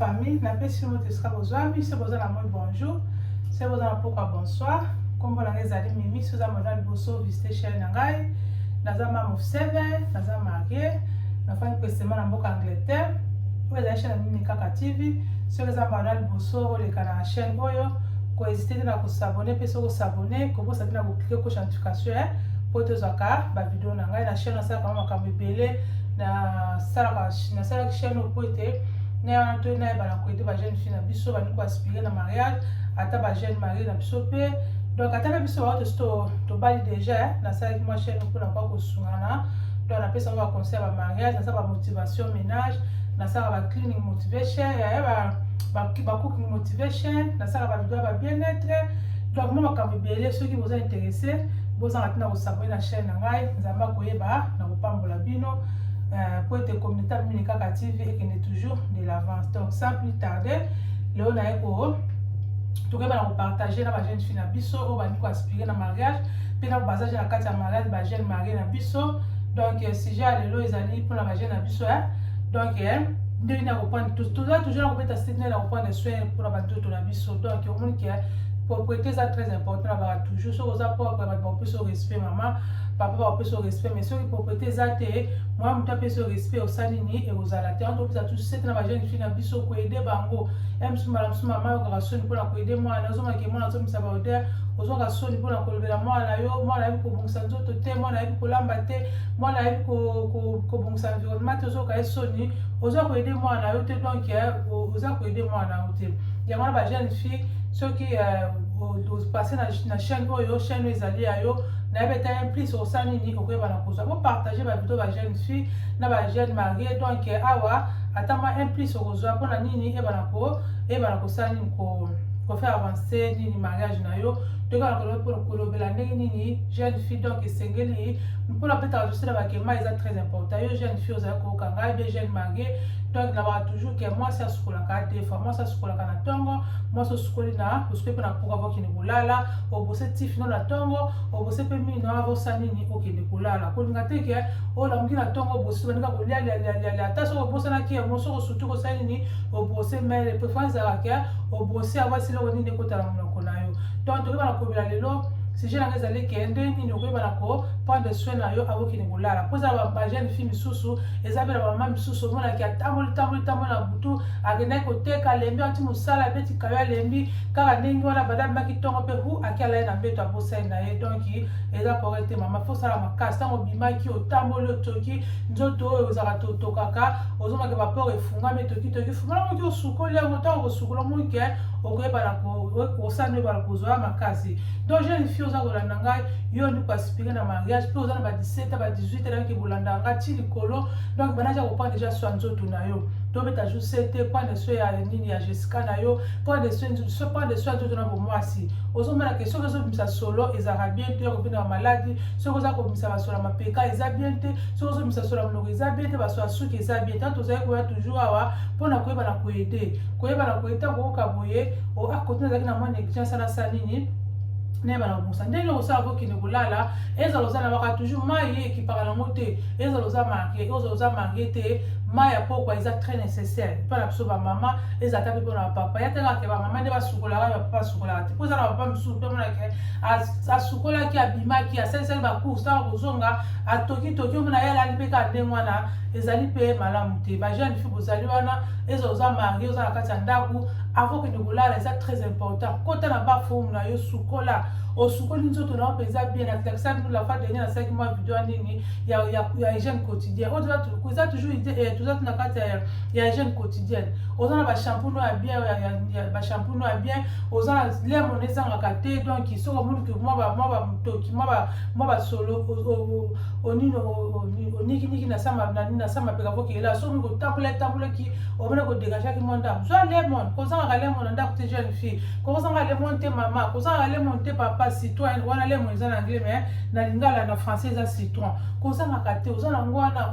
famille napesi moto esika bozwami se boza na moi bonjour se boza na pokwa bonsoir nkombo na ngai ezali mimi soza mona liboso visite chaine na ngai naza mame of seven naza marie nafandi pesema na mboka angleterre oyo ezali chaine ya mimi kaka tv soki eza mbanda liboso oleka na chaine oyo koezite te na kosabone mpe soki osabone kobosa te na yo ko chantification hein po tozwaka ba video na ngai na chaîne nasalaka ma makambo ebele nasalaka nasalaki chaîne oyo po ete na to nayeba na koyede ba jeune fille na biso bandi ko aspire na mariage ata ba jeune marie na biso pe donc ata pe biso baoyo tosi tobali déjà hein. nasalaki mwa chaîne mpo na kwa kosungana donc napesaka ba conseil ya ba mariage nasala ba motivation ménage nasala ba cleaning motivation ya ba ba cooking motivation nasala ba video ya ba bien être tolakoma makambo ebele soki boza interesse bozanga ntina kosabone na chaîne na ngai nzambe akoyeba na kopambola bino euh, mpo ete communauté mini kaka tv ekende toujours de l'avance donc sans plus tarder lelo naye ko tokoyeba na kopartage na bajeune fille na biso oyo bandi koaspire na mariage mpe na bazaje na kati ya mariage bajeune marie na biso donc euh, sujet ya lelo ezali mpona bajeune na biso donc euh, ndenge na kopanda toza toujours na kobeta site na kopanda soin mpona bantoto na biso donc omoni ke propriété eza très important na baka toujours soki oza propre bato bakopesa yo respect mama papa bakopesa yo respect mais soki propriété eza te mwana moto apesa yo respect osali nini ekozala te antopesa tu sete na bajeune fille na biso koede bango ya mosusu mbala mosusu mama yokaka soni mpona koede mwana ozongake mwana azongisa baodere ozwaka soni mpona kolobela mwana na yo mwana ayebi kobongisa nzoto te mwana ayebi kolamba te mwana ayebi kobongisa environnement te ozoka ye soni oza koede mwana na yo te donc eh, oza koede mwana na yo te yango wana ba jeune fille soki euh, opasse na chaîne oyo chaîne oyo ezali ya yo nayebi ete un plus osali nini okoyeba na kozwa bopartage bavideo ba jeune fille na ba jeune marie donc awa ata mwa un plus okozwa mpo na nini eyebana kosala nini ko kofaire avancer nini mariage na yo tokala kolobela ndenge nini jeune fille donc esengeli mpona betaka tosila bakema eza très important yo jeune fille ozali koyoka ngai be jeune marie donc nalobaka toujours ke mwasi asukolaka te fois mwasi asukolaka na ntongo mwasi osukoli na osukoli mpe na mpuka okende kolala obose tifi no na ntongo obose mpe mino avosa nini okende kolala kolinga te ke olamuki na ntongo obosi baninga kolia lialialialia ata soki obosanaki yango soki osuti kosala nini obose mele mpe fo ezalaka ke obose avasi eloko nini ekotala monoko na yo donc tokoki bana kobela lelo sujet na ngai ezali ke ndenge nini okoki bana ko prendre soin na yo akokende kolala mpo eza ba jeune fille misusu eza mpe na bamama misusu omonaki atamboli tamboli tamboli na butu akendaki koteka alembi ati mosala abeti kayo alembi kaka ndenge wana bada abimaki ntongo mpe hu ake alai na mbeto abosani na ye donk eza kore te mama fo osala makasi ntango obimaki otamboli otoki nzoto oyo ozalaka totokaka ozomaki bapore efungami tokitoki fungola moki osukoli yango ntango kosukola moki okoyebana osani oyebana kozwa makasi donc jeune fille oza kolanda ngai yo ndiko aspire na mariage mpe oza na ba 17 ba 18 telaki bolanda nga ti likolo donc bana ja kopana deja swa nzoto na yo tobeta jour sete pande so ya nini ya jessica na yo pande so pande so ya nzoto na bomwasi ozomona ke soki ozobimisa solo ezalaka bien te okobina bamaladi soki oza kobimisa basolo ya mapeka eza bien te soki ozobimisa solo ya monoko eza bien te basolo ya suki eza bien ntango tozali koya toujours awa mpo na koyeba na koyede koyeba na koyede ntango okoka boye akotina azalaki na mwa negligence anasa nini nayeba na kobusa ndenge osala kokende kolala ezala oza nabaka toujours mai ye ekipaka nango te ezala oza marie oza oza marie te mai ya pokwa eza très nécessaire mpo na biso bamama eza ata mpe mpo na bapapa ya telakake bamama nde basukolaka ya papa asukolaka te mpo eza na papa mosusu mpe monake asukolaki abimaki asalisaki bacourse ntango kozonga atokitoki omona ye alali mpe kaka ndenge wana ezali mpe malamu te bajeune fi bozali wana eza oza marie oza na kati ya ndako avant kende kolala eza très important kota na bafomu na yo sukola osukoli nzoto na yo mpenza bien natalisa bino la fois dernier nasalaki mwa video ya nini ya hygiène quotidien oyo eza toujours eh, toza na kati ya hygiène quotidienne oza na bashampoing ya bien bashampoing ya bien oza na lemon ezangaka te donc soki omoni ke mwa bamotoki mwa basolo onini onikiniki na sa mapeka kokela soki omi kotambola etambolaki omona kodegagaki mwa ndako zwa lemon kozangaka lemon na ndako te jeune fille kozanga lemon te mama kozanga lemon te papa citron wana lemon eza na anglais mais na lingala na français eza citron kozangaka te oza na yango wana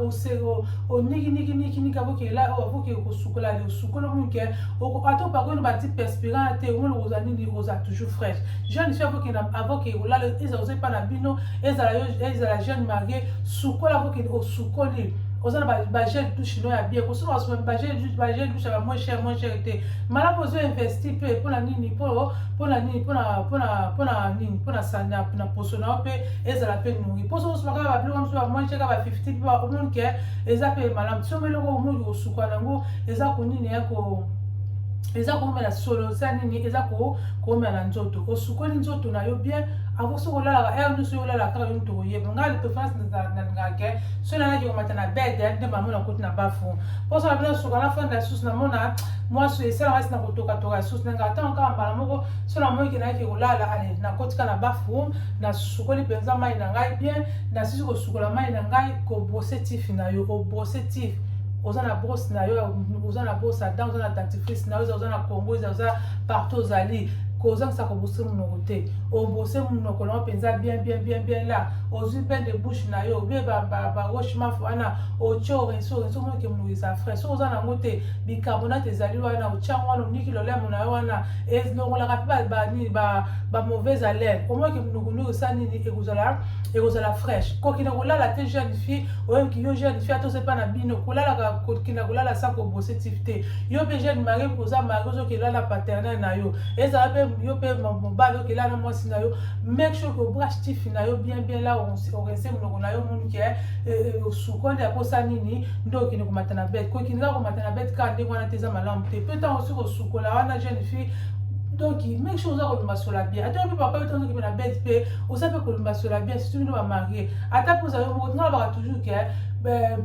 oniginiginiginigi avokela avoke kosukola le osukoli omonike ata opakoli bati perspirant te omoni oza nini oza toujours fraîche jeune fille avokenda avoke olala ezala oza epa na bino ezala jeune marie sukola avoke osukoli oza na bagel du chinois ya bien kosuka basuka bagel du chinois ya moins cher moins cher te malamu ozo investi mpe mpo na nini mpo mpo na nini mpo na mpo na mpo na nini mpo na sanda na poso na yo mpe ezala mpe nungi mposo osuka kaka babilo mosusu bamoince kaka ba 50 mpe bakomoni ke eza mpe malamu somo eloko omoni kosuka na yango eza konini ya ko eza komela solo eza nini eza komela na nzoto osukoli nzoto na yo bien avant soki olalaka heure nyonso yo olalaka kaka yo moto oyeba ngai le préférence nalingaka ke soki nalaki komata na bede nde mamona koti na bafu mpo soki abino suka na fanda lisusu namona mwasi oyo esala ngasi na kotokatoka ya susi nanga ntango kaka mbala moko so namoni ke nayaki kolala ale nakotika na bathroom nasukoli mpenza mai na ngai bien nasisi kosukola mai na ngai kobrose tif na yo obrose tif oza na brosse na yo oza na brosse ata oza na dentifrice na yo oza na congo oza partout ozali kozangisa kobose monoko te obose monoko na yo mpenza bien bien bien bien la ozwi bain de bouche na yo obe baroche maf wana otye orenso orenso moke monoko eza frais soki oza na yango te bicarbonate ezali wana otya yango wana oniki lolemo na yo wana elongolaka mpe banini bamauvaise haleine omoki munukunuku sa nini ekozala ekozala fraîche kokina kolala te jeune fille oyoki yo jeune fille atose mpa na bino kolalaka kokina kolala sa kobose tif te yo mpe jeune mari oza mari ozoki elala paternel na yo ezala mpe yo mpe mobali oyoki elala mwasi na yo make sure ke obrache tif na yo bien bien la orese monoko na yo omoni ke eh, eh, osukoli akosa nini nde okende komata na bete kokende kaka komata na bete kaka ndenge wana te eza malamu te mpe ntango osi kosukola wana jeune fille donc make sure oza kolumbasola bien ata yo mpe papa yo ntango ozoki mpe na bete mpe oza mpe kolumbasola bien surtout bino bamarie ata mpe oza yo moko tingalobaka toujours ke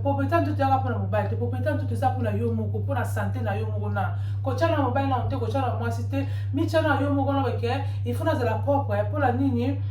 popeta ntutu yaka mpona mobali te popeta ntutu eza mpona yo moko mpona sante na yo moko na kotyana na mobali nano te kotyana na mwasi te mityana na yo moko na bake il faut nazala propre mpona nini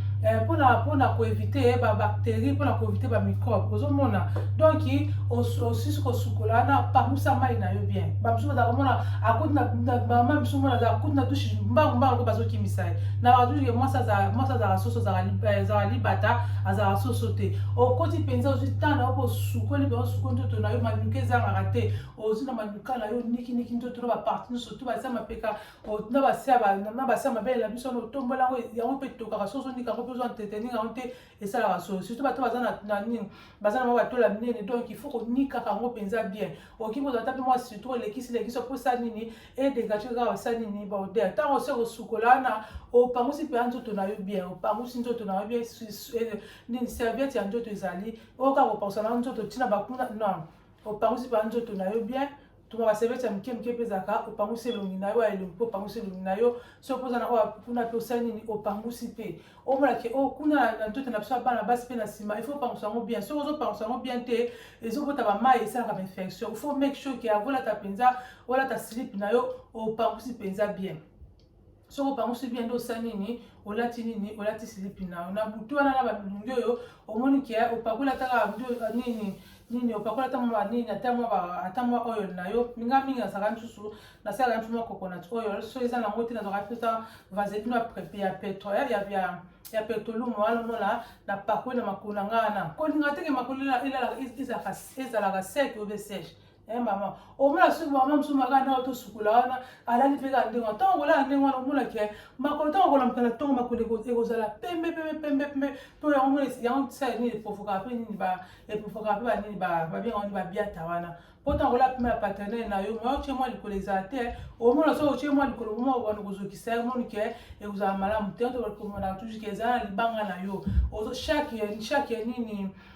mpona mpona koevite bacterie mpona koevite bamicrobe ozomona donc osisi kosukola na pangusa mai na yo bien bamosusu bazalaka mona akuti na mama misu mona azala akuti na dushe mbangu mbangu mpe bazokimisa ye na badushe mwasi azalaka soso azalaka eh, libata azalaka soso te okoti mpenza ozwi ntango na yo mpo osukoli mpenza osukoli ntoto na yo manuka ezangaka te ozwi na manuka na yo nikiniki ntoto na baparti nyonso to basia mapeka na basia mabele na biso wana otombola yango yango mpe etokaka soso ndika yango mpe ozwa nteteninga yango te esalaka solo surtout bato baza na nini baza na mwa batola minene donc il faut konikaka yango mpenza bien okoki kozala ta mpe mwa surtout olekisi lekisi okosa nini edegage kaka osa nini baoder ntango osi kosukola wana opangusi mpenza nzoto na yo bien opangusi nzoto na yo bien eh, nini serviette ya nzoto ezali oyoka kopangusa na nzoto ntina bakuna non opangusi mpenza nzoto na yo bien tuma baservice ya moke moke mpe ezalaka opangusi elongi na yo ya elongi mpe opangusi elongi na yo soki mpoza na oyo kuna mpe osali nini opangusi mpe omona ke o oh, kuna na nzoto na biso ya bana basi mpe na nsima il faut opangusa yango bien soki ozopangusa yango bien te ezobota bamai esalaka bainfection il faut make sure ke akolata mpenza olata slip na yo opangusi mpenza bien soki opangusi bien nde osali nini olati nini olati silipi na yo na butu wana na babilongi oyo omoni ke opakola ataka nini nini opakola ata mwa nini ata mwa ata mwa oil na yo minga mingi nazalaka misusu nasalaka misusu mwa coconut oil so eza nango te nazalaka mpenza vaselino ya petro ya ya ya petolumu wana omona na pakoli na makolo na ngai wana kolinga te ke makolo ezalaka sec obe sèche Eh mama, omona soki mama mosusu makaka ndenge tosukola wana alali mpe kaka ndenge wana ntango kolala ndenge wana omona ke makolo ntango kolamuka na ntongo makolo ekozala pembe pembe pembe pembe mpo yango omona yango sa nini epofokaka mpe nini epofokaka mpe banini babengaka nini babiata wana mpo ntango kolala mpe ya paternele na yo mwa otye mwa likolo ezala te omona soki otye mwa likolo moma okobanda kozokisa ye omoni ke ekozala malamu te tokomonaka toujours ke ezala na libanga na yo chaque chaque nini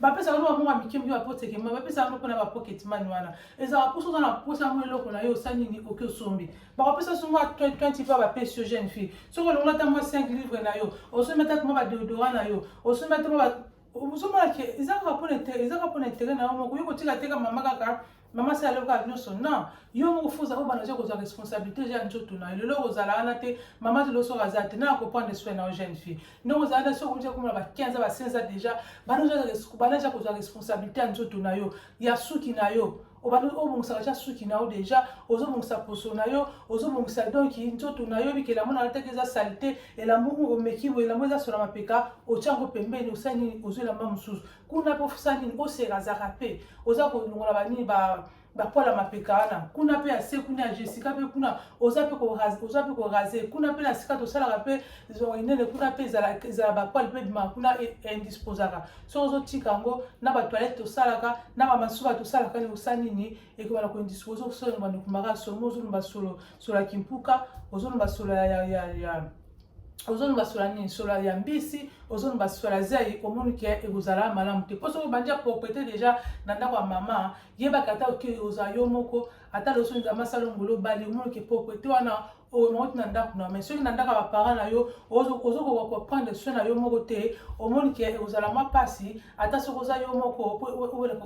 bapesa yango mabongo ya mike mike bapoteke mai bapesa yango mpona bapocket mani wana ezalaka mposa oza na mposa yango eloko na yo osali nini oke osombi bakopesa so mwa 20 mpe bapesi yo jeune fille soki olongola ata mwa 5 livre na yo osombi ata mwa badeodora na yo osombi ata mwa ozomona ke eza kaka mpona intere eza kaka mpona intere na yo moko yo kotika teka mama kaka mama si aloka nyonso non yo moko fo oza obana oza kozwa responsabilité oza ya nzoto na yo lelo okozala wana te mama ti loso aza te na kopande soin na yo jeune fille ndenge ozala na soki oza komona ba 15 ba 16 ans déjà bana oza kozwa responsabilité ya nzoto na yo ya suki na yo obandi obongisaka tya suki na yo deja ozobongisa poso na yo ozobongisa donki nzoto na yo bikela yango nalataki eza salite elambo omeki boye elambo eza sola mapeka otya yango pembeni osali nini ozwi elamba mosusu kuna mpe osala nini oseka azaka mpe oza kolongola banini ba bapola mapeka wana kuna mpe ya se kuna ya jessica mpe kuna oza mpe oza mpe korase kuna mpe na sika tosalaka mpe inene kuna mpe ezala bapoil mpe bima kuna e, indisposaka soki ozotika yango na batoilette tosalaka na bamasuba tosalaka ni osa nini ekobana koindispose osoloba nokumaka solo mo ozolomba solo solo ya kimpuka ozolomba solo ya ozoloba sola nini sola ya mbisi ozoloba sola ya zai omoni ke ekozala malamu te mpo soki obandi apropriete deja na ndako ya mama yebaka ata oke ozala yo moko ata loso nzambe asala ngolo obali omoni ke propriete wana omauti na ndako na mai soki na ndako ya baparent na yo ozokoka koprendre soin na yo moko te omoni ke ekozala mwa mpasi ata soki oza yo moko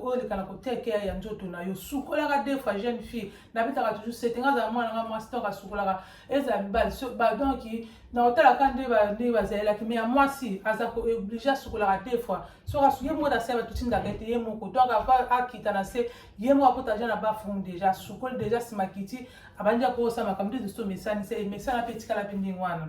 oyoleka na kotekeya ya nzoto na yo sukolaka defa jeune fille nabetaka toujours sete nga azala mwana nga mwasi ntango asukolaka ezala mibali so badonki na kotalaka nde nde bazalelaki me ya mwasi aza kooblige asukolaka te fois soki asu ye moko na se batutindaka ete ye moko donc ava akita na se ye moko akota deja na bafumu deja asukoli deja nsima kiti abandi akokosa makambo nde tosi tomesani se emesana mpe etikala mpe ndenge wana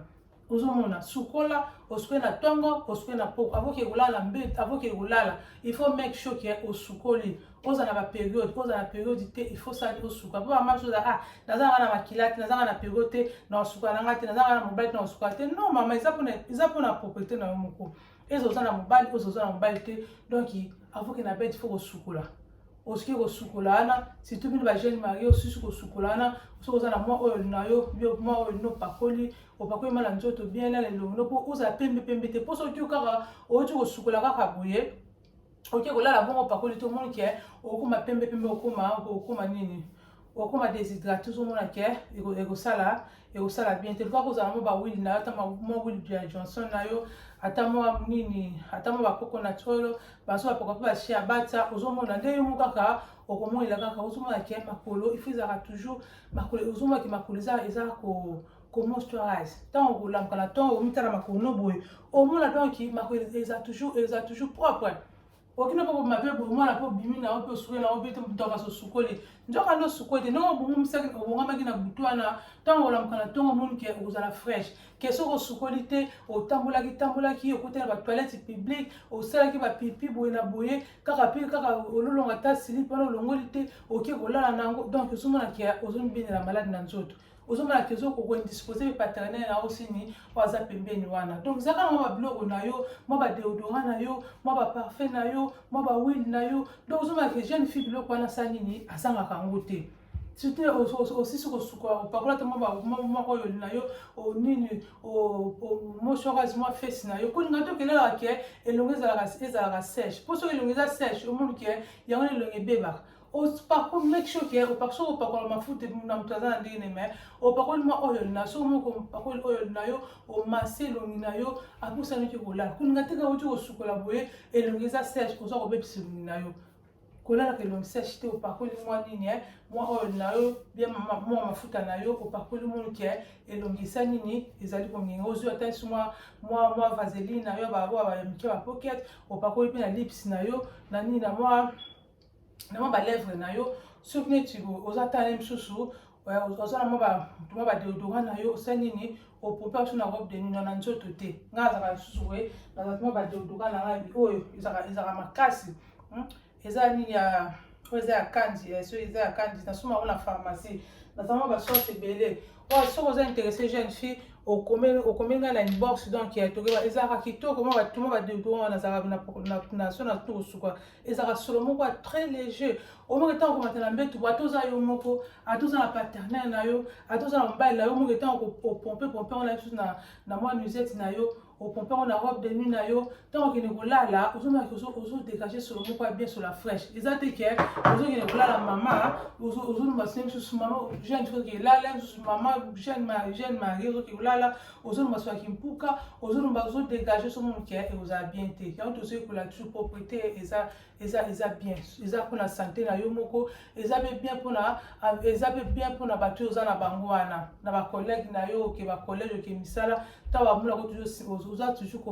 ozomona sukola osukwe na ntongo osukwe na poko avoke kolala mbe avoke kolala il faut make sure ke osukoli kozala ba periode kozala na periode te il faut sali osuka mpo bamama biso ah naza nanga na makila te naza nanga na periode te na osuka nanga te naza nanga na mobali te na osuka te non mama eza mpona eza mpona propriété na yo moko eza oza na mobali oza oza na mobali te donc avoke na bete fo kosukola osuki kosukola wana surtout bino bajeune marie osusi kosukola wana soki oza na mwa oyo na yo yo mwa oyo lino opakoli opakoli mwa na nzoto bien na lelongo no mpo ozala pembe pembe te mpo soki yo kaka outi kosukola kaka boye oke kolala bongo opakoli te omoni ke okokoma pembe pembe okoma okokoma nini okoma déshydrate ozomona ke ekosala ekosala bien te luka kozala mo bawili na yo ata mwa wili bia johnson na yo ata mwa nini ata mwa bakoko na tolo baso bapoka mpe bashi ya bata ozomona nde yo mo kaka okomonela kaka ozomona ke makolo ifo ezalaka toujours makolo ozomona ke makolo eza eza ko comment tu rise tant au lam kala tant au mitala makono boy au moins la donc qui mako ils a toujours ils a toujours propre okina po mabe bo moi la po bimi na ope suwe na ope to ka so sukole njoka ndo sukole no bo mum saki ko bonga maki na butwana tant au lam kala tant mon ke ozala fresh ke so ko sukoli te otambola ki tambola ki okutela ba toilette publique osala ki ba pipi boye na boye kaka pile kaka ololonga ta sili pona olongoli te oke kolala nango donc osumona ke ozomibinela malade na nzoto ozomona ke ozo koko indispose pe paternel na yo sini oyo aza pembeni wana donc zaka na mwa babiloko na yo mwa badeodora na yo mwa baparfum na yo mwa bawile na yo donc ozomona ke jeune fille biloko wana asala nini azangaka yango te soki osisi kosuka opakola te moko oyo na yo nini mosokas mwa fesi na yo kolinga te okelelaka ke elongo ezalaka sèche mpo soki elongo eza sèche omoni ke yango na elongo ebebaka opakoli make sure ke opakoli soki opakola mafuta na moto aza na ndenge ne mai opakoli mwa oyol na soki moko opakoli oyol na yo omasi elongi na yo aposanaki kolala kolinga te kaka oti kosukola boye elongi eza sèche oza kobebisa elongi na yo kolalaka elongi sèche te opakoli mwa nini eh, mwa oyol na yo bia mwa mafuta na yo opakoli moni ke eh, elongi esa nini ezali kongenga ozwi ata esi mwa mwa vaseline na yo baoyo ya mike bapokete opakoli mpe na lips na yo na nini na mwa na mwa balèvre na yo soki neti oza tale mosusu oza na mwa badeodora na yo osa nini opopa biso na robe de nino na nzoto te ngai azalaka lisusu boye nazalaki mwa badeodora na ngai oyo ezalaka makasi hmm? eza nini ya oyo eza ya kanzi eh, soki eza ya kanzi nasoma yango na pharmacie naza mwa basorte ebele oyo soki oza interesse jeune fille okomi ngai na inbox donc ya tokeba ezalaka kitoko mwa batuma badeodora nazalaka na so na tukosuka ezalaka solo moko ya très léger omoko ntango okomata na mbetu bo ata oza yo moko ata oza na paternel na yo ata oza na mobali na yo omoko ntango opompe pompe yango na bisu na mwa nusete na yo opompe yango na robe de nuit na yo ntango okende kolala ozomaki ozodégage solo moko ya bien sola fraîche eza te ke ozokende kolala mama ozolumba sene misusu mama jeune soki elala misusu mama jeune jeune marie ozokende kolala ozolomba soki kimpuka ozolomba ozodegaje osomona ke eza bien te yango tozoyekola toujours propreté eza eza eza bien eza mpona sante na yo moko eza mpe bien mpona eza mpe bien mpona bato oyo oza na bango wana na bacollègue na yo oke bacollège oke misala ntango bamonako toujours oza toujours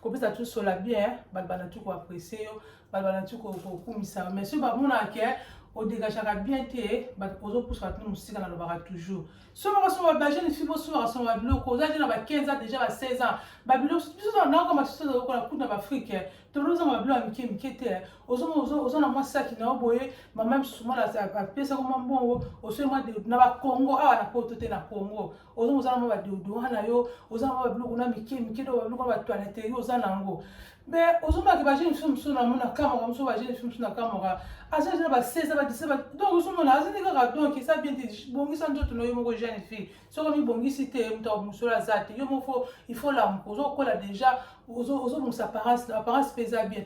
kopesa toujours sola bien bato bana tu koaprecie yo bato bana tu kokumisa yo mais soki bamonaka ke odegageaka bien te ozopusa bato mosika na lobaka toujours soki bakosomba ba jeune fille bosomba kasomba ba biloko oza je na ba 15 ans déjà ba 16 ans ba biloko biso tozala nao kama biso tozala kola kutu na baafrike eh. tobili ozanga ba biloko ya mike mike te eh. oza na mwa saki nao boye mama misusu mwana apesako mwa mbongo osoi mwa na bakongo awa na poto te na kongo ozonga oza na mwa badeodora na yo oza na mwa babiloko na mike mike to babiloko na batoileterie oza na yango mais ozomaki ba jeune fille mosusu nango na kamaka mosusu ba jeune fille mosusu na kamaka aza na ba 16 ba 17 donc ozomona aza nde kaka donc eza bien te bongisa nzoto na yo moko jeune fille soki omibongisi te moto mosolo aza te yo moko fo il faut lamuka ozokola déjà ozobongisa apparence na apparence mpe eza bien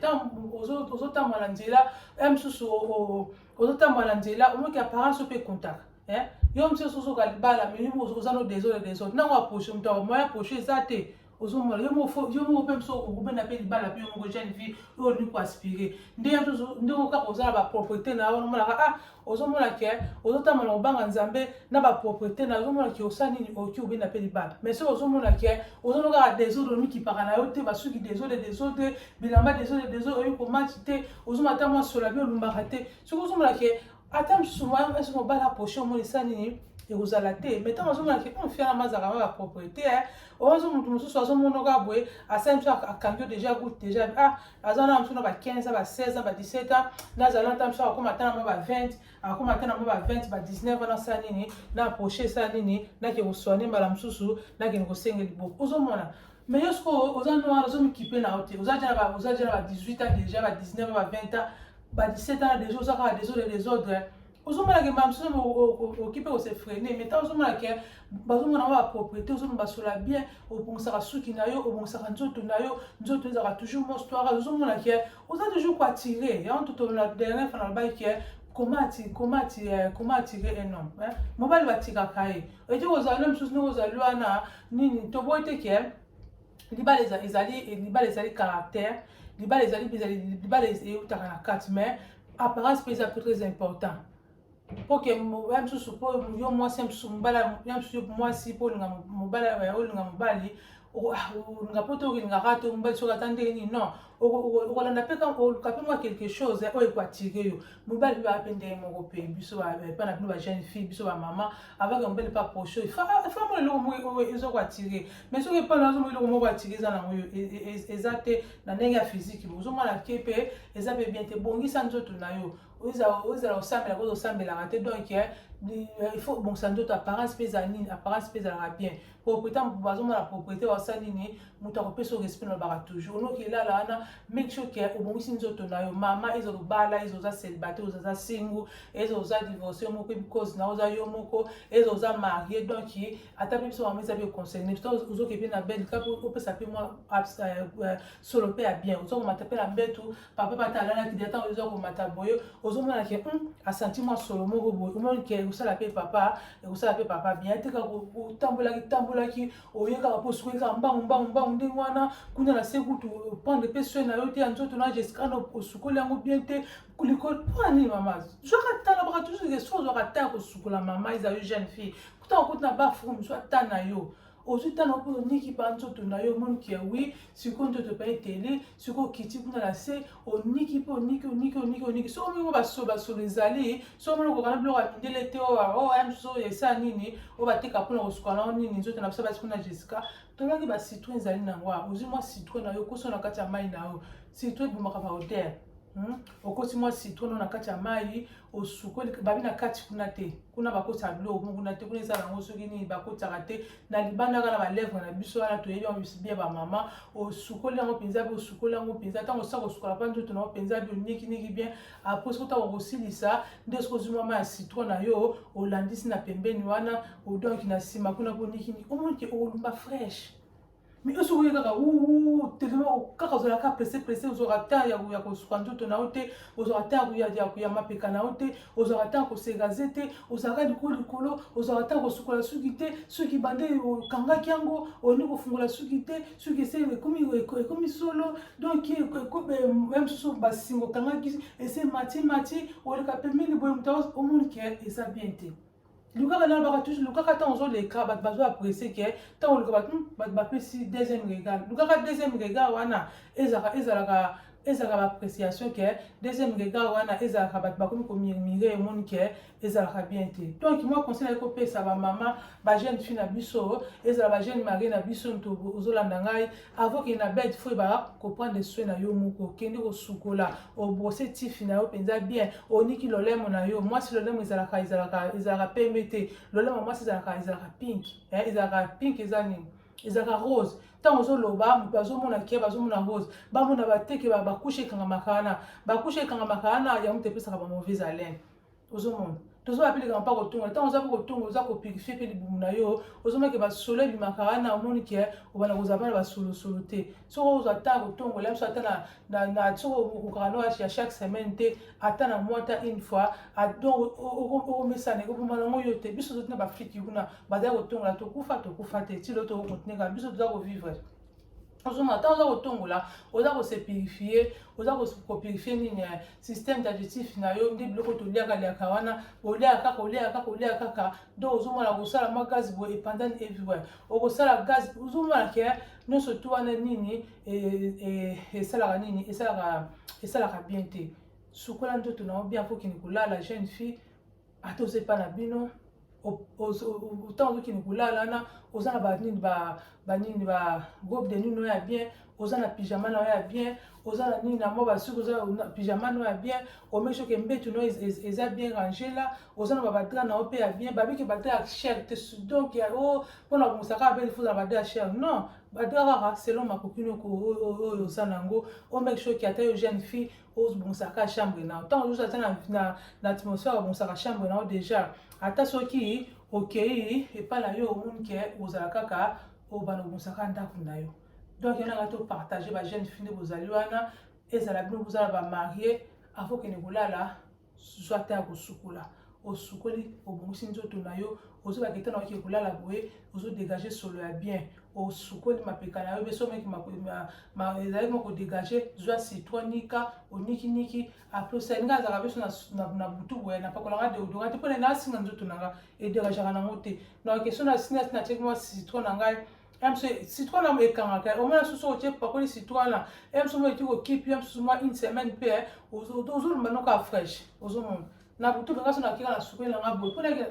ozotambola na nzela ya mosusu ozotambola na nzela omoki apparence yo mpe ekontaka yo mosusu ozoka libala mais oza no desole desole ntango aproche moto ya moyen aproche eza te ozomona yo moko yo moko mpe biso okobenda mpe libala mpe yo moko jeune fille oyo olingi koaspire nde nde oyo kaka oza na bapropriété na yo wana omonaka ah ozomona ke ozotamba na kobanga nzambe na bapropriété na yo ozomona ke osa nini oki obenda mpe libala mais soki ozomona ke ozono kaka desordre omikipaka na yo te basuki desordre desordre bilamba desordre desordre oyebi komatch te ozomata mwa sola mpe olumbaka te soki ozomona ke ata msuma esi mobala aproche omoni esa nini ekozala te mai ntango azomona ke on fiana mazaka ma bapropriété eh, ozo moto mosusu azomonoka boye asali biso akangi yo déjà gout déjà ah aza na mosusu na ba 15 ba 16 ba 17 ans nazala nta mosusu akokoma ata na mwa ba 20 akokoma ata na mwa ba 20 ba 19 wana asala nini na approche esala nini nakende koswane mbala mosusu nakende kosenge liboke ozomona Mais yo sikoyo oza noir ozo mikipe na yo te oza deja ba oza deja na ba 18 ans deja ba 19 ba 20 ans ba 17 ans deja oza kaka desordre desordre ozomona ke mbala mosusu okipe kose freine mais ntango ozomona ke bazomona yango bapropriété ozomona basola bien obongisaka suki na yo obongisaka nzoto na yo nzoto ezalaka toujours mostoire ozomona ke oza toujours koattire yango totolola dernier fana alobaki ke comment attirer un homme mobali batikaka ye ete kozala loi mosusu ndenge ozali wana nini toboyi te ke libala ezali libala ezali caractère libala ezali libala eutaka na kati mais apparence mpe eza mpe très important mpo ke ya mosusu mpo yo mwasi ya mosusu mobala ya mosusu mwasi mpo olinga mobala olinga mobali olinga mpo te olingaka te mobali soki ata ndenge nini non okolanda mpe oluka mpe mwa quelque chose eh, oyo ekoatire yo mobali mpe ape ndenge moko mpe biso epa na bino ba jeune fille biso bamama avaka mobali mpe aproche oyo famo eloko moko eza koatire mais soki epa na azomoi eloko moko atire eza nango yo e, e, e, eza te na ndenge ya physique ozomona ke mpe eza mpe bien te bongisa nzoto na yo ozala osambela koza osambelaka te donc eh, il faut bongisa nzoto apparence mpe eza nini apparence mpe ezalaka bien propriété bazomona propriété wasala nini moto akopesa yo respect nalobaka toujours noki elala wana make sure ke obongisi nzoto na yo mama eza lobala eza oza célibataire oza singu eza oza divorce yo moko because na oza yo moko eza oza marie donc ata mpe biso mama eza mpe concerne biso ozoke mpe na belle kape opesa mpe mwa euh, euh, solo mpe ya bien ozokomata mpe na mbetu papa bata alalaki de ntango oza komata boye ozomona ke hmm, asanti mwa solo moko boye omoni ke ekosala mpe papa ekosala mpe papa bien te kaka otambolaki tambolaki oye kaka mpo soki kaka mbangu mbangu mbangu ndenge wana kuna na se kutu opande mpe soin na yo te ya nzoto na jessica osukoli yango bien te likolo mpo na nini mama zwaka tala baka toujours ke so ozwaka ta ya kosukola mama ezali jeune fille kuta okoti na bafrume zwa ta na yo ozwi ntango mpo oniki ba nzoto na yo omoni ke wi sikoyo nzoto epai eteli sikoyo okiti kuna na se oniki mpe oniki oniki oniki oniki soki omoni basolo basolo ezali soki omoni okoka na biloko ya mindele te oyo oh, oh, ya mosusu oyo esa nini oyo bateka mpona kosuka na yo nini nzoto na biso basi kuna jessica tolaki ba citron ezali na yango ozwi mwa citron na yo okoso na kati ya mai na yo citron ebomaka baodere Hmm? okosi mwa citron na kati ya mai osukoli babi na kati kuna te kuna bakotisa biloko mo kuna te kuna eza nango soki nini bakotaka te na libanda kaka na balèvre na biso wana toyebi yango biso bie bamama osukoli yango mpenza mpe osukoli yango mpenza ntango osila kosukola mpa nzoto nango mpenza mpe onikiniki bien apres soki ntango okosilisa nde soki ozwi mama ya citron na yo olandisi na pembeni wana odonki na nsima kuna mpo onikini omoni ke okolumba fraîche mais yo soki oye kaka uu telema kaka ozala kaka presse presse ozwaka temps ya ya kosuka nzoto na yo te ozwaka temps ya ya ya mapeka na yo te ozwaka temps kosegaze te ozalaka likolo likolo ozwaka temps kosukola suki te soki bande okangaki yango olingi kofungola suki te soki ese ekomi ekomi solo donc ya mosusu basinga okangaki ese mati mati oleka pembeni boye moto omoni ke eza bien te lukaka na lobaka toujours lukaka ntango ozoleka bato bazo apprécie ke ntango oluka bato hmm, bato bapesi deuxième regard lukaka deuxième regard wana ezalaka ezalaka ezalaka baappréciation ke deuxième regard wana ezalaka bato bakomi komirmire emoni ke ezalaka bien te donc moi conseil nayaki kopesa bamama bajeune fille na biso ezala bajeune marie na biso nto ozolanda ngai Avant que na bed faut ba ko prendre soin na yo moko kende ko sukola o brosser tifi na yo penza bien oniki lolemo na yo mwasi lolemo ezalaka ezalaka ezalaka pembe te lolemo mwasi ezalaka ezalaka pink eh, ezalaka pink eza nini ezalaka rose ntango ozoloba moto azomona keba azomona rose bamona bateke bakushe ekangamaka wana bakushe ekangamaka wana yango moto epesaka ba mauvaise haleine ozomona tozo wapi likambo mpa kotonga ntango oza mpe kotonga oza kopurifie mpe libumu na yo ozomaki basolo ebimaka wana omoni ke obanda kozala mpe na basolosolo te soki ozwa ata kotongola biso ata na soki okokaka no ya chaque semaine te ata na mwa ata une fois donc okomesana ekoboma nango yo te biso tozoti na bafiki kuna bazali kotongola tokufa tokufa te ti loto okontinue kaka biso toza kovivre ozonga ntango oza kotongola oza kose purifie oza kopurifie nini eh, système digestif na yo nde biloko toliaka liaka wana oliaka kaka oliaka kaka oliaka kaka donc ozomona kosala mwa gaz boye epandani everywhere okosala gaz ozomona ke eh, nyonso tu wana nini eh, esalaka nini esalaka esalaka bien te sukola nzoto na yo bien mpo okende kolala jeune fille ata oza epai na bino otan ozokende kolala wana oza na banini banini ba groupe de nini oya bien oza na pyjama na oya bien oza na nini na mwa basuki oza pyjama na oya bien omeshoke mbetu no eza bien range la oza na babadra na yo mpe ya bien babiki badra ya cher te donc o oh, mpo na kongosaka mpe lifuza na badra ya cher non badra kaka selon makoki noko oyo oza na yango omeshoke ata yo jeune fille obongisaka chambre na yo ntango ozuzu ata na, na, na atmosphère obongisaka chambre na yo déjà ata soki okei epai na yo omoni ke ozala kaka obana obongisaka ndako na yo donc yango nanga topartage bajeune fille nde bozali wana ezala bino bozala bamarie avo kende kolala zwa ata ya kosukola osukoli obongisi nzoto na yo ozobaka etana oke kolala boye ozodegage solo ya bien osukoli mapeka na yo mpe soki ezalaki mwa kodegage zwa citro nika onikiniki apres osali nga azalaka biso na butu boye napakolanga deodora te mpo na nga asinga nzoto na nga edegageaka nango te na question na sina natiaki mwa citro na ngai MC citron na ekangaka au moins soso otie pakoli citron na MC mo eti ko keep MC mo une semaine pe eh, ozo ozo lumba no ka fresh ozo mon na butu nga so na kika na sukwe na nga boy pona ke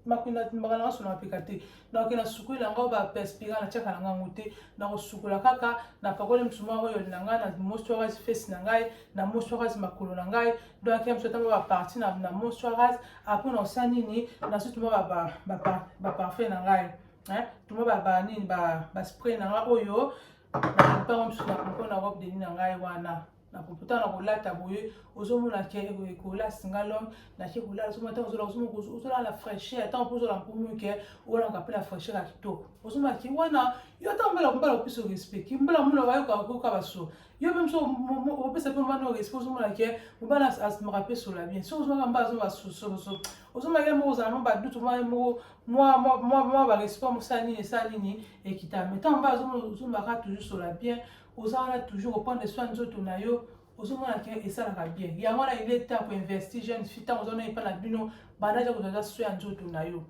makuna mbaka na so na pika te na ke na sukwe na nga ba perspira na chaka na nga ngote na ko sukula kaka na pakoli msuma oyo na nga na moisturise face na ngai na moisturise makolo na ngai donc MC tamba ba partie na na moisturise après na osani ni na so tuma ba ba ba parfait na ngai hein tuma ba ba nini ba ba spray na nga oyo na mpango mosusu na propos na robe de nuit na ngai wana na propos na kolata boye ozomona ke ekola singalong nake kolala ozomona ntango ozola ozomona ozolala na fraîcheur ntango mpo ozola mpomi ke olanaka mpe na fraîcheur ya kitoko ozomona ki wana yo ntango mbala mbala opesa respect ki mbala mbala wayoka koyoka baso yo mpe mosu opesa mpe mbana respect ozomona ke mobala asimaka mpe sola bien soki ozomaka mbala azomaka sososo ozomaka ye moko ozala mwa badutu mwa ye moko mwa mwa mwa mwa ba respect mosala nini esala nini ekita mais ntango mba azomaka toujours sola bien oza wana toujours oprendre soin nzoto na yo ozomona ke esalaka bien yango wana ile temps koinvesti jeune fille ntango oza na epa na bino banaja kozaza soin ya nzoto na yo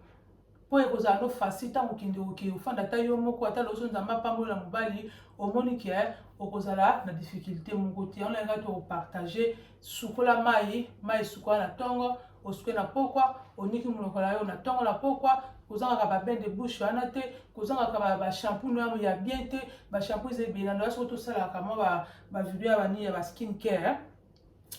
mpo ekozala no facile ntango okende oke ofanda ata yo moko ata loso nzambe apambola mobali omoni ke okozala na difficulté moko te yango na yango tokopartage Sukola mai, mai sukola na tongo, osuke na pokwa, oniki monoko na yo na tongo na pokwa, kozangaka ba bain de bouche wana te, kozangaka ba, ba shampoo na ya bien te, ba shampoo eza ebele na soki tosalaka mwa ba, ba video ya ba nini ya ba skin care,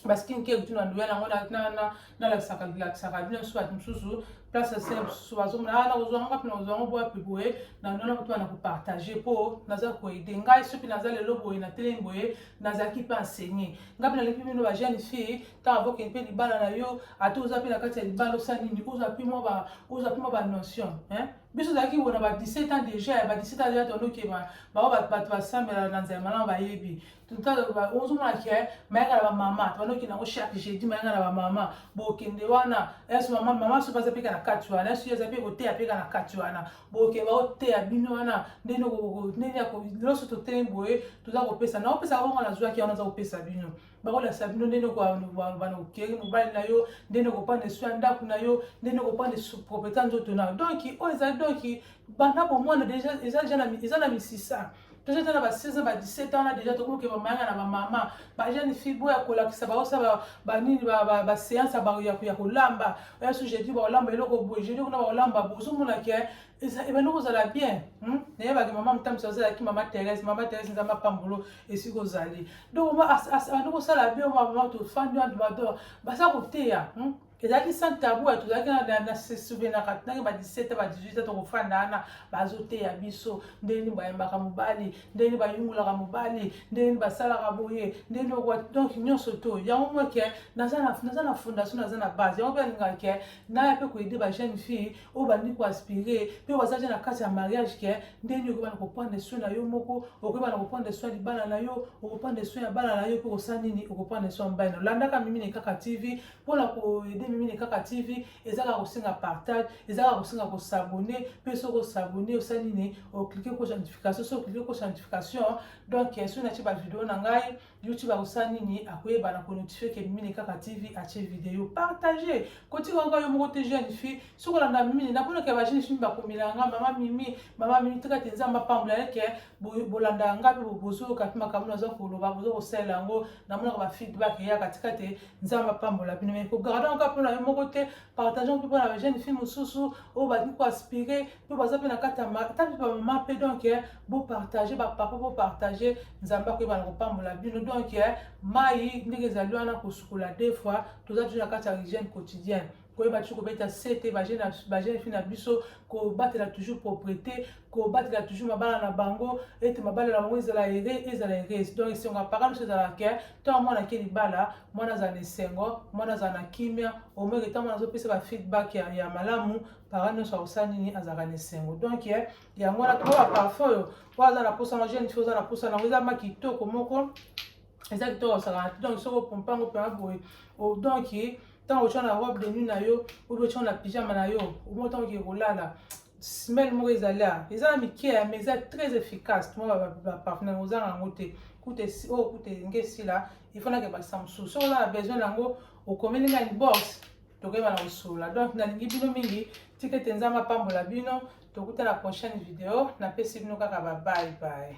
ba skin care kutu na ndoya na yango na, na, na nalakisaka lakisaka bino so bato mosusu place asele mosusu bazomona ah, nakozwa yango wapi nakozwa yango boya piboye nanona kutu na kopartage mpo naza koede ngai soki naza lelo boye na telemi boye nazalaki mpe enseigné ngai mpe naleki bino ba jeune fille ntango abokeli mpe libala na yo ata oza mpe na kati ya libala osa nini ozwa mpe mwa ozwa mpe mwa banotion biso ozalaki bona ba 17 ans déjà ya ba 17 ans déjà toloki bango bato basambela na nzela malamu bayebi ozomona ke mayaka na bamama tobandokende yango chaque jeudi mayaka na bamama bokende wana yesu mama mama soki aza mpeka na kati wana yesu aza mpe koteya mpeka na kati wana bokende baoteya bino wana ndenge ndenge nyonso totelemi boye toza kopesa na opesa bongo nazwaki wana aza kopesa bino bakolakisa bino ndenge okobana okeri mobali na yo ndenge okopanda esu ya ndako na yo ndenge okopanda propriété nzoto na yo donki oyo eza donki banda bomwana deja eza na misisa toza tala ba 16 ans ba 17 ans na deja tokoki kokeba mayanga na bamama ba jeune fille boya kolakisa baosala banini baseance ya kolamba oya su jeudi bakolamba eloko boye jeudi kuna bakolamba bozomona ke ebandi kozala bien hmm? nayebaki mama motamisi azalaki mama therese mama therese nzambe apambolo esika ozali donc abandi kosala bien mama tofandi wana bato baza koteya hmm? ezalaki sans tabou ya tozalaki na se souvenaka ntange ba 17 ba 18 a tokofanda wana bazoteya biso ndenge nini bayembaka mobali ndenge nini bayungulaka mobali ndenge nini basalaka boye ndenge nini okwa donc nyonso to yango mwa ke naza na fondation naza na base yango mpe alingaka ke naya mpe koyede ba jeune fille oyo bandi koaspire mpe baza ja na kati ya mariage ke ndenge nini okobana koprendre soin na yo moko okobana koprendre soin ya libala na yo okoprendre soin ya bana na yo mpe kosala nini okoprendre soin ya mobali na olandaka mimi na kaka tv mpona koyede mimi na kaka tv ezaka kosenga partage ezaka kosenga kosabone mpe soki osabone osali nini oklike kosa notification soki oklike kosa notification donc soki natye bavideo na ngai youtube akosala nini akoyeba na konotifie ke mimi na kaka tv atye video partage kotika kaka yo moko te jeune fille soki olanda mimi naponaka bajeune fille bakomelanga mama mimi mama mimi tika te nzambe apambola yeke bolandaka ngai mpe bozoyoka mpe makambo naza koloba boza kosalela yango namonaka bafeedback ya katika te nzambe apambola bino mai kogarda yango kaka mpo na yo moko te partage yango mpe mpo na bajeune fille mosusu oyo balingi koaspire mpe baza mpe na kati ya ata mpe bamama mpe donk eh, bopartage bapapa bopartage nzambe akoyeba na kopambola bino donk eh, mai ndenge ezali wana kosukola deux fois toza toujours na kati ya hygiène quotidienne koyeba toujours kobeta sete bajeune fille na biso kobatela toujours propriété kobatela toujours mabala na bango ete mabala na bango ezala ere ezala erese donc esengo ya parent biso ezala ke ntango mwana ake libala mwana azala na esengo mwana azala na kimia omeke ntango mwana azopesa ba feedback ya, ya malamu parent nyonso akosala nini azalaka na esengo donc eh, yango wana tokoba parfum oyo oyo aza na mposa na jeune fille oza na mposa nango eza ma kitoko moko eza kitoko osaka donc soki opompa yango mpema boye donc ntango otya na robe de nuit na yo obi otya na pyjama na yo omo ntango oke kolala smell moko ezali a eza na mike ya mais eza très efficace tuma baparfumeur ozanga yango te kute oyo oh, kute enge esila efanaka bakisa mosusu soki oza na besoin na yango okomeli ngai box tokoyeba na kosolola donc nalingi bino mingi tika ete nzambe apambola bino tokutana prochaine video napesi bino kaka babai baye